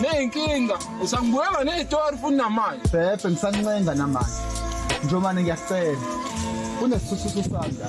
Neyinkinga usangibuyela nezitori futhi namanje. Bhebhe ngisancenga namanje. Njomane ngiyacela. Unesisusu sami la.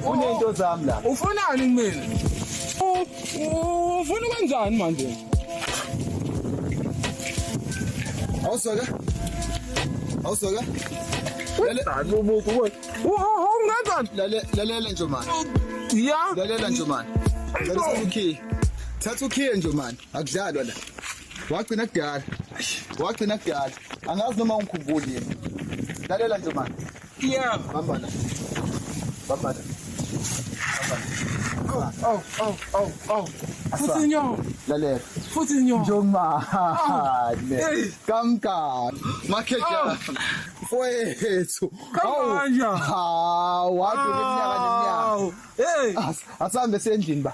Unento zami la. Ufunani kumina? Ufuna kanjani manje? Awusoka? Awusoka? Lale umuntu wena. Ungenzani? Lale lalela Njomane. Yeah. Lalela Njomane. Ngicela ukhiye. Thatha ukhiye Njomane. Akudlalwa la. Wagcina kudala. Wagcina kudala. Angazi noma ungikhumbuli yini. Lalela nje manje. Yeah. Bamba la. Bamba la. Bamba la. Oh, oh, oh, oh. Futhi nyo. Lalela. Futhi nyo. Njomane. Hey. Kamka. Makhejana. Mfowethu. Kamanja. Hawu, wathi iminyaka neminyaka. Hey. As- Asambe sendlini ba.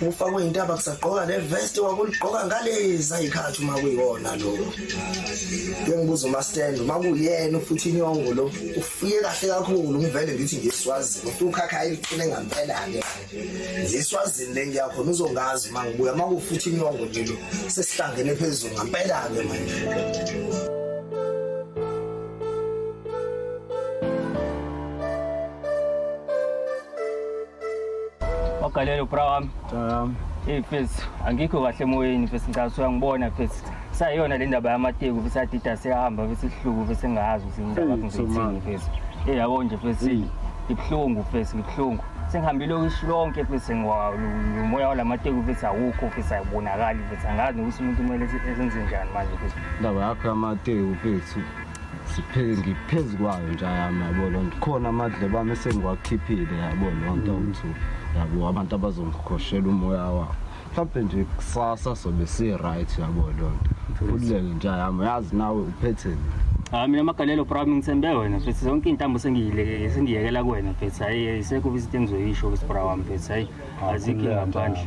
ufakwe intaba kusagqoka le vest wakuligqoka ngalezi ayikhathi uma kuyona lo bengibuza umastand uma kuyena futhi inyongo lo ufike kahle kakhulu ngivele ngithi ngiswazini ufike ukhakha ayiqine ngampela-ke ngiswazini le ngiyakhona uzongazi uma ngibuya uma kufuthi inyongo nje lo sesihlangene phezulu ngampela-ke manje Wagalelo bra wami. Um, hey mfethu, angikho kahle emoyeni mfethu ngicela uyangibona mfethu. Sayona le ndaba yamateku mfethu adida sehamba mfethu ihluku mfethu engazi ukuthi indaba yakho ngizithini mfethu. Hey yabo nje mfethu. Ibuhlungu mfethu, ibuhlungu. Sengihambile okushi lonke mfethu ngiwawu umoya walamateku mfethu awukho mfethu ayibonakali mfethu angazi ukuthi umuntu kumele enze njani manje mfethu. Indaba yakho yamateku mfethu. siphele ngiphezu kwayo nje yami yabo loo nto khona amadlebe ami esengiwakhiphile yabo loo nto ukuthi yabo abantu abazongikhoshela umoya wabo mhlawumbe nje kusasa sobe si-right yabo loo nto khululeke nje yami yazi nawe uphetheni hayi mina magalelo bra ngithembe wena mfethu zonke iy'ntambo sengiyile- sengiyekela kuwena mfethu hhayi ayisekho izinto engizoyisho ukuthi bra wami mfethu hhayi azikho ingaphandle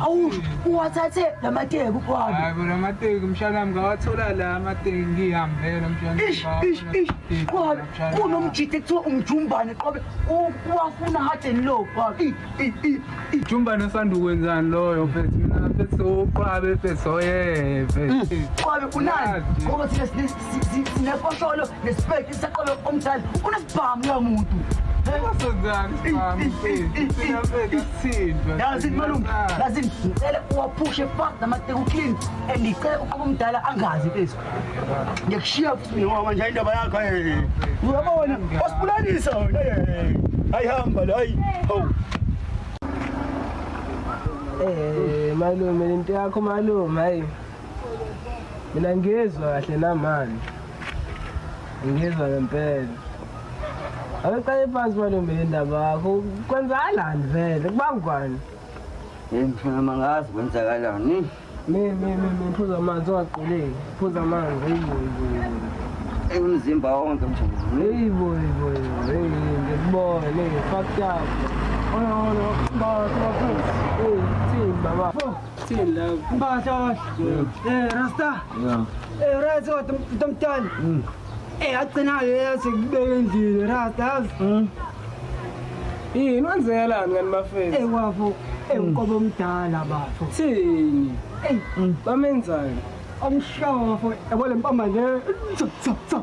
Awu uwathathe lamateki uphalo. Hayi bona amateki mshana wami ngawathola la amateki ngihambela mshana. Ish ish ish. Qhalo kunomjithe kuthiwa umjumbane qobe uwafuna hard and low phalo. I i i i. Jumbane usanda ukwenzani loyo mfethu mina mfethu uqwabe mfethu oyeve. Qobe kunani? Ngoba thina sinesi sinefosholo nesipeki saqobe omdlali unesibhamu lowo muntu yazini malume yazini ngicele uwaphushe fak namateka uclean and ngicele uqoba omdala angazi phezu ngiyakushiya futhi mina ngoba manje indaba yakho uyabona wasibulalisa wena hayi hamba la hayi hawu Eh malume lento yakho malume hayi mina ngizwa kahle namani ngizwa ngempela abeqale phansi malume le ndaba yakho kwenzakalani vele kubangwani Hey mfana mangazi kwenzakalani. mi mi mi mi phuza amanzi ungaquleki phuza amanzi heyiboyiboyibo Ey umzimba wonke mjolo. heyiboyiboyibo heyi ngikubone ngifakutapho Ona ona, baba, baba, baba. eyi thini baba Still in love. Mbah Josh. Eh Rasta. Yeah. Eh Rasta kodwa utomtana. Mm. Eh agcinayo yathi kubeka endlini Rasta yazi. Mm. Yini wenzelani ngani mafethu? Eh wafo. Eh uqobo omdala bafo. Thini? Eh mm. bamenzani? Omshawa bafo. Yabo lempama le. Tsa tsa tsa.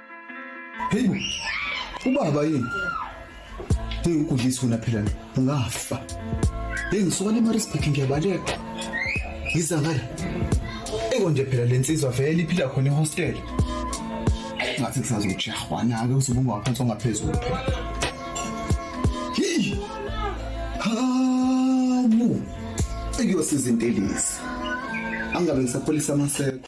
Hey, ubaba yini? Hey, ukudlisa wena phela ungafa. Hey, ngisuka le Maritzburg ngiyabaleka. Yiza ngale. Eko nje phela lensizwa vele iphila khona ehostel. Ngathi kusazojahwa nake usubunga waphansi ongaphezulu phela. Hey! Hamu! Ekuyosiza intelisi. Angabe ngisapholisa amaseko.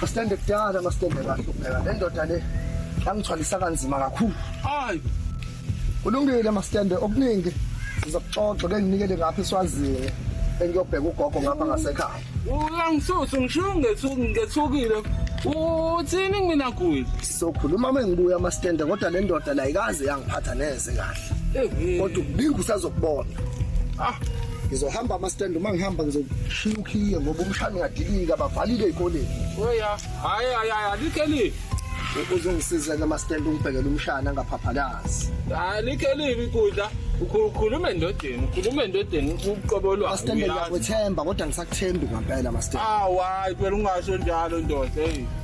Masitende kudala masitende kahle ubheka le ndoda le yangithwalisa kanzima kakhulu. Hayi. Kulungile masitende okuningi sizokuxoxa ke nginikele ngapha eswazini engiyobheka ugogo ngapha ngasekhaya. Uyangisusa ngisho ngethukile. Uthini mina kuyi? Sizokhuluma mengibuya masitende kodwa le ndoda la ikaze yangiphatha neze kahle. kodwa uningi usazokubona ah ngizohamba amastand uma ngihamba ngizoshiya ukhiye ngoba umshana uyadilika bavalile ey'koleni oya hayi hayi hayi alikelile uzongisiza ke amastand ungibhekele umshana angaphaphalazi alikelile ikudla ukhuluma endodeni ukhuluma endodeni uqobo lwakho amastand ngiyakwethemba kodwa ngisakuthembi ngampela amastand awu hayi phela ungasho njalo ndoda eyi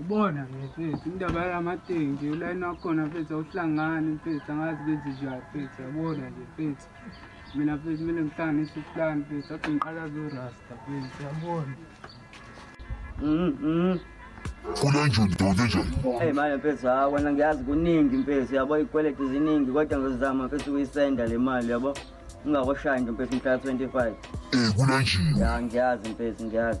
Ubona ke mfethu indaba yalamateki ulayini wakhona mfethu awuhlangani mfethu angazi benze njani mfethu yabona nje mfethu mina mfethu kumele ngihlanganise uhlani mfethu athi ngiqala zorasta mfethu yabona Funa nje ndoda nje. Hey manje mfethu ha wena ngiyazi kuningi mfethu yabo ikweleti ziningi kodwa ngizama mfethu uyisenda le mali yabo ungakoshayi nje mfethu mhla 25 Eh kunanjini. ya ngiyazi mfethu ngiyazi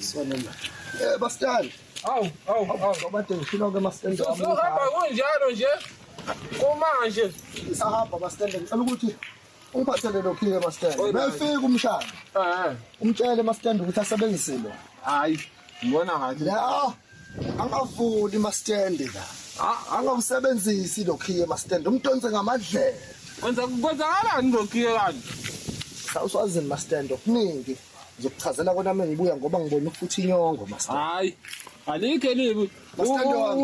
Sonoma. Eh bastani. Awu, awu, awu. Obade ngifuna ke mastende. Sohamba kunjalo nje. Kumanje isahamba mastende ngicela ukuthi ungiphathele lokhu ke mastende. Befika umshana. Eh. Umtshele mastende ukuthi asebenzise lo. Hayi. Ngibona ngathi. La. angavuli mastende la A- angawusebenzisi lokhiye mastende umdonse ngamadlela Kwenza kwenzakalani lokhiye kanti? sawuswazini mastende okuningi ngizokuchazela kona uma ngibuya ngoba ngibona ukufuthi inyongo mastende Hayi. Alikho elibi. Mastende wami.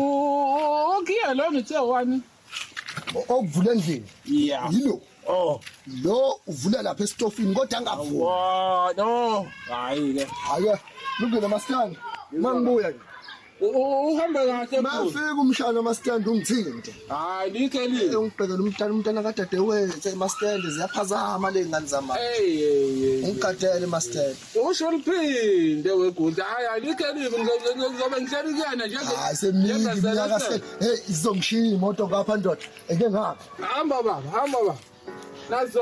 Ukhiye lo ngithe wani? okuvula endlini yeah yilo oh lo uvula lapha esitofini kodwa angavuli wa no hayi ke hayi lungile maskani mangibuya ke uhamba kahle mafika umshana mastand ungithinte hayi like lini ungibhekela umntana umntana kadade wethu mastand ziyaphazama le ngane zama hey hey ungigadele mastand usho liphinde weguda hayi alikelive ngizobe ngihleli kuyena njengesemnyaka hey izongishiya imoto ngapha ndoda eke ngapha hamba baba hamba baba nazo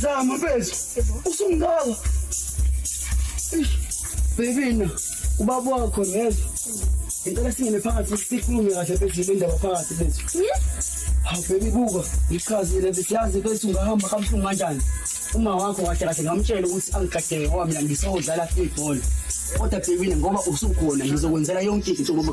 Zama mfethu. Usungaka. Bebina ubaba wakho ngezwa. Ngicela singene phakathi sikhulume kahle bethu le ndaba phakathi bethu. Hawu baby buka ngichazile besiyazi bethu ungahamba kabuhlungu kanjani. Uma wakho kahle kahle ngamtshela ukuthi angigadeke kwami la ngisodlala ibhola. Kodwa bebina ngoba usukhona ngizokwenzela yonke into ngoba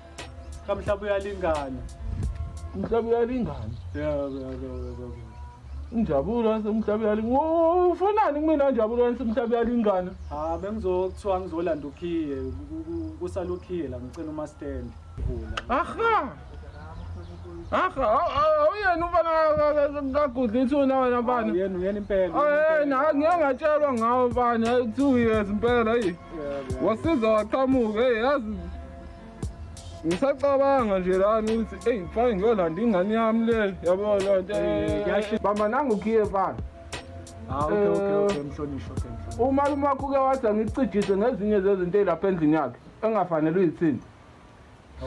Kamhlaba uyalingana. Umhlaba uyalingana. Yebo yebo yebo. Injabulo yasemhlaba uyalingana. Wo, Ufunani kumina injabulo yasemhlaba uyalingana? Ah bengizokuthiwa ngizolanda ukhiye ku- ku- kusala ukhiye la ngicela uma stand. Vula. Aha. Aha, aw- aw- awuyena umfana ka- ka- ka- kagudla ithuna wena Ah, mfana. Uyena uyena impela. Ayena, ngeke ngatshelwa ngawo mfana, ayi two years impela, ayi. Yebo. Wasiza waqhamuka, hey yazi ngisacabanga nje lami ukuthi eyi fane ngiyolanda ingane yami le yabo lo nto eh, bamba nangukhiye fana ah, okay, okay, eh, okay, mhlonishwa umalume wakho uke wathi angicijise ngezinye zezinto eyilapha endlini yakhe engafanele uyithini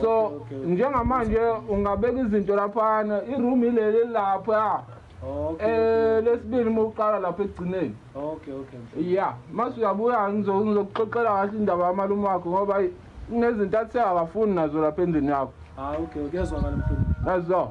so njengamanje ungabeka izinto laphana iroom ileli lapha Okay. Eh lesibili uma uqala lapha ekugcineni. Okay, okay. Yeah, mase uyabuya ngizo- ngizokuxoxela kahle indaba yamalume wakho ngoba ayi, kunezinto athe akafuni nazo lapha endlini yakho. Ah, okay, okay. Yazwakala mfundisi. Yazo.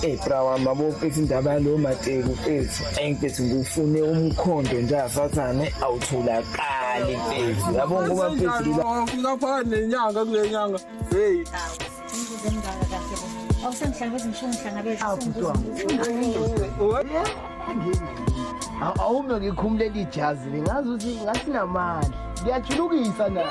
Hey bra wami abophethe indaba yalo mateku mfethu. Ayi mfethu ngufune umkhondo nje asathane awutholakali mfethu. Yabo ngoba mfethu la. Fika phakathi nenyanga kule nyanga. Hey. Awusengihlangabeza ngishongo ngihlangabeza. Awusengihlangabeza. awume ngikhumule lijazi lingazi ukuthi ngasinamandla ngiyajulukisa nayo